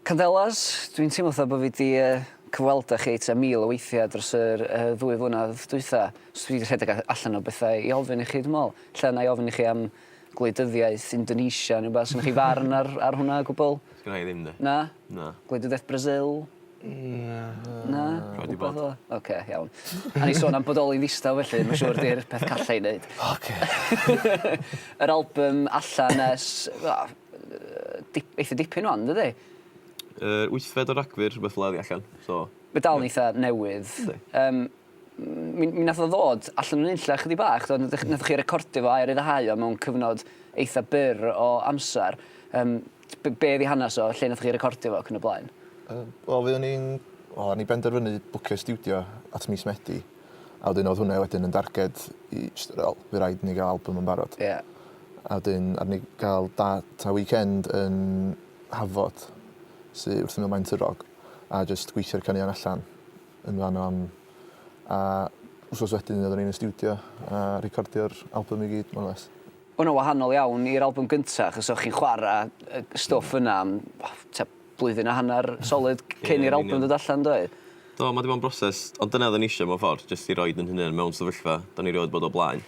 Candelas, dwi'n teimlo fatha bod fi 'di cyfweld â chi tua mil o weithiau dros yr ddwy flynedd dwytha, so dwi 'di rhedeg allan o bethau i ofyn i chi dwi me'wl. Ella 'nai ofyn i chi am gwleidyddiaeth Indonesia ne' wbath. Sgynnoch chi farn ar ar hwnna o gwbwl? Sgynnai ddim 'de. Na? Na. Gwleidyddiaeth Brasil? Na. Na? Rhaid i bod. Oce iawn. O'n i sôn am bodoli ddistaw felly ma' siŵr 'di'r peth calla i neud. Oce. Yr albym allan ers wel dip, eitha dipyn wan, dydy? Uh, wythfed o Ragfyr, rhywbeth fel allan. So, Mae dal yn eitha newydd. Um, mi, mi nath o ddod allan yn unlla chydig bach, dod, nath, nath chi recordio fo a'i ryddhau o mewn cyfnod eitha byr o amser. Um, be, be fi hanes o, lle nath chi recordio fo ac yn y blaen? Uh, Wel, fi o'n i'n... Wel, o'n i benderfynu bwcio studio at mis Medi. A wedyn odd hwnne wedyn yn darged i jyst fel wel by raid i ni ga'l albym yn barod. Ie. A wedyn aru ni ga'l dat a weekend yn Hafod sy wrth ymyl Maen Twrog a jyst gweithio'r caneuon allan yn fan 'no am a wsos wedyn oddwn ni yn y stiwdio a recordio'r albym i gyd more or less. O' wnna wahanol iawn i'r albym gynta achos o' chi'n chwara yy stwff yna am o t'o' blwyddyn a hanner solid cyn i'r albym ddod allan do? Do ma' 'di bod yn broses ond dyna odden ni isio mewn ffordd jyst i roid 'yn hunan mewn sefyllfa 'dan ni rioed bod o blaen.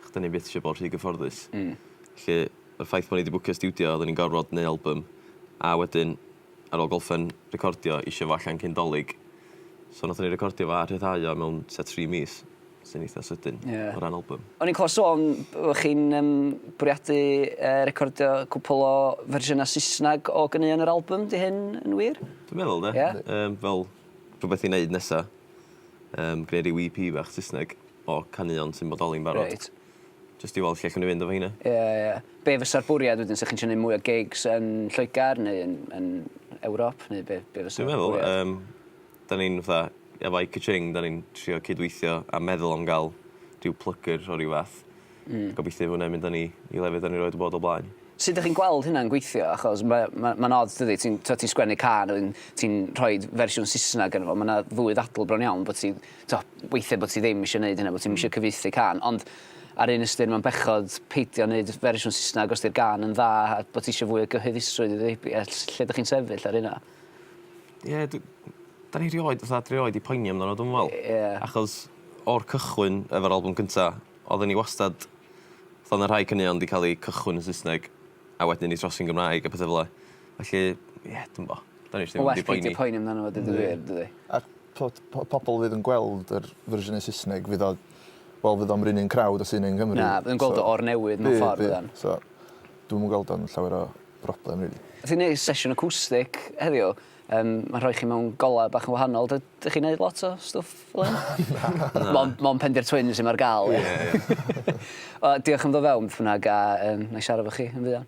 Ch' 'dan ni byth isio bod rhy gyfforddus. Hmm. Felly y ffaith bo' ni 'di bwcio stiwdio odden ni'n gorfod neu' albym a wedyn ar ôl golffen recordio isio fo allan cyn 'Dolig so nathon ni recordio fo a rhyddhau o mewn tua tri mis. Sy'n eitha sydyn. Ie. O ran albym. O'n i'n clywed sôn bo' chi'n yym bwriadu yy recordio cwpwl o fersiynau Saesneg o ganeuon yr albym, 'di hyn yn wir? Dwi'n meddwl 'de. Ie? Yym fel rhwbeth i neud nesa. Yym gneu' ryw Ee Pee fach Sysneg o caneuon sy'n bodoli'n barod. Reit. Jyst i weld lle allwn ni fynd efo rheina. Ie ie. Be' fysa'r bwriad wedyn 'sa chi'n trio neu' mwy o gigs yn Lloegar neu yn yn Ewrop neu be' be' fysa... Dwi'n meddwl yym 'Da ni'n fatha, efo I ka-ching 'da ni'n trio cydweithio a meddwl am ga'l rhyw plygr o ryw fath. Hmm. Gobeithio i hwnna mynd â ni i lefydd 'da ni rioed 'di bod o blaen. Sud 'dych chi'n gweld hynna'n gweithio? Achos ma' ma' ma'n od dydi ti'n t'o' ti'n sgwennu cân a wedyn ti'n rhoid fersiwn Saesneg yno fo ma' 'na ddwy ddadl bron iawn bo' ti t'o' weithie bo' ti ddim isio neud hynna bo' ti'm isio hmm. cyfieithu cân ond ar un ystyr ma'n bechod peidio neud fersiwn Saesneg os 'di'r gân yn dda a bo' ti isio fwy o gyhoeddusrwydd iddi lle 'dych chi'n sefyll ar hynna? Ie dw- 'dan ni rioed fatha dwi rioed 'di poeni amdano dwi'm yn me'wl. Ie. Achos o'r cychwyn efo'r albwm cynta odden ni wastad fel ma' rhai caneuon 'di ca'l 'u cychwyn yn Saesneg a wedyn 'u trosi'n Gymraeg a petha fel 'a felly ie dwi'm bo'. 'Dan ni js ddim 'di poeni. Ma' well peidio poeni amdano fo deud y gwir dydi? A'r t'od po- pobol fydd yn gweld yr fersiynau Sysneg fydd o wel fydd o'm 'run un crowd â sy 'ne yng Nghymru. Na fydd yn gweld o o'r newydd mewn ffordd fyddan. Bydd bydd so dwi'm yn gweld o'n llawer o broblem rili. Nath ni neud sesiwn acwstic heddiw yym ma'n rhoi chi mewn golau bach yn wahanol dy- dych chi'n neud lot o stwff fel 'yn? Na. Mon' mon' Pendi'r Twins sy 'ma ar ga'l ie? Ie ie. Wel diolch am ddo' fewn beth bynnag a yym nâi siarad efo chi yn fuan.